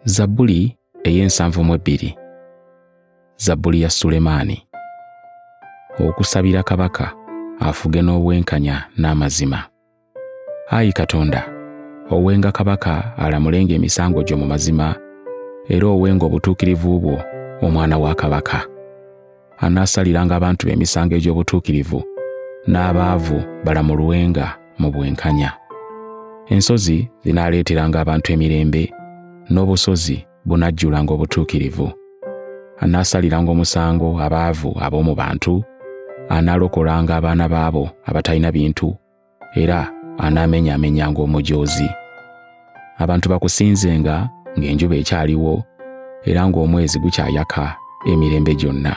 zabbuli ey'ensanvu mu ebbiri zabbuli ya sulemaani okusabira kabaka afuge n'obwenkanya n'amazima ayi katonda owenga kabaka alamulenga emisango gyo mu mazima era owenga obutuukirivu bwo omwana wa kabaka anaasaliranga abantu be emisango egy'obutuukirivu, n'abaavu balamulwenga mu bwenkanya. Ensozi zinaaleeteranga abantu emirembe, n'obusozi bunajjulanga obutuukirivu. Anaasaliranga omusango abaavu ab'omu bantu, anaalokolanga abaana baabo abatalina bintu era anaamenyaamenyanga omujoozi. Abantu bakusinzenga ng'enjuba ekyaliwo era ng'omwezi gukyayaka emirembe gyonna.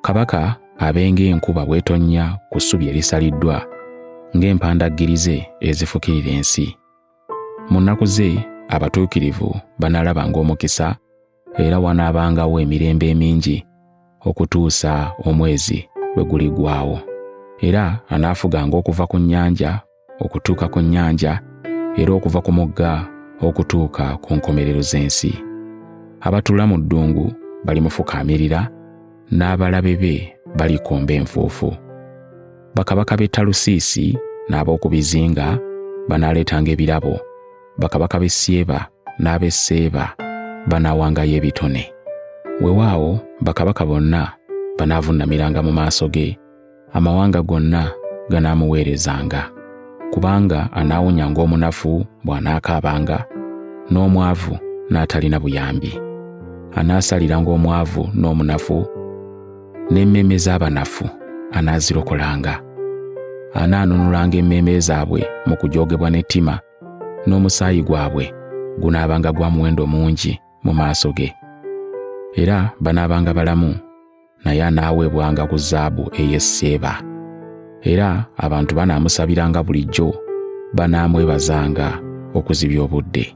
Kabaka abenga enkuba bwetonnya ku ssubi erisaliddwa ng'empandaggirize ezifukirira ensi. Mu nnaku ze abatuukirivu banaalabanga omukisa era wanaabangawo emirembe emingi okutuusa omwezi lwe guligwawo. Era anaafuganga okuva ku nnyanja okutuuka ku nnyanja era okuva ku mugga okutuuka ku nkomerero z'ensi. Abatuula mu ddungu balimufukaamirira, n'abalabe be balikomba enfuufu. Bakabaka b'e Talusiisi n'ab'oku bizinga banaaleetanga ebirabo bakabaka b'e Syeba n'ab'e Seeba banaawangayo ebitone. Wewaawo bakabaka bonna banaavuunamiranga mu maaso ge, amawanga gonna ganaamuweerezanga, kubanga anaawonyanga omunafu bw'anaakaabanga, n'omwavu n'atalina buyambi. Anaasaliranga omwavu n'omunafu, n'emmeeme z'abanafu anaazirokolanga. Anaanunulanga emmeeme zaabwe mu kujoogebwa n'ettima n'omusaayi gwabwe gunaabanga gwa muwendo mungi mu maaso ge era banaabanga balamu naye anaaweebwanga ku zaabu ey'e seeba era abantu banaamusabiranga bulijjo banaamwebazanga okuzibya obudde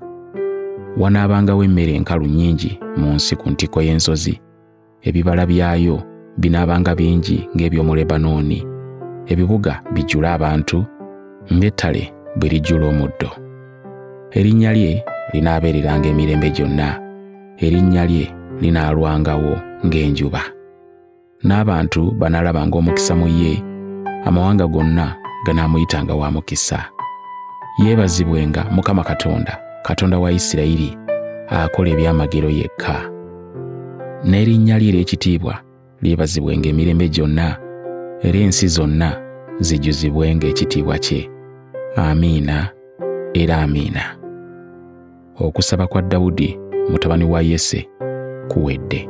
wanaabangawo emmere enkalu nnyingi mu nsi ku ntikko y'ensozi ebibala byayo binaabanga bingi ng'eby'omu Lebanooni, ebibuga bijjule abantu ng'ettale bwe lijjula omuddo. Erinnya lye linaabeereranga emirembe gyonna, erinnya lye linaalwangawo ng'enjuba. N'abantu banaalabanga omukisa mu ye, amawanga gonna ganaamuyitanga wa mukisa. Yeebazibwenga Mukama Katonda, Katonda wa Isirayiri, akola ebyamagero yekka. n'erinnya lye ery'ekitiibwa lyebazibwenga emirembe gyonna era ensi zonna zijjuzibwenga ekitiibwa kye amiina era amiina okusaba kwa dawudi mutabani wa yese kuwedde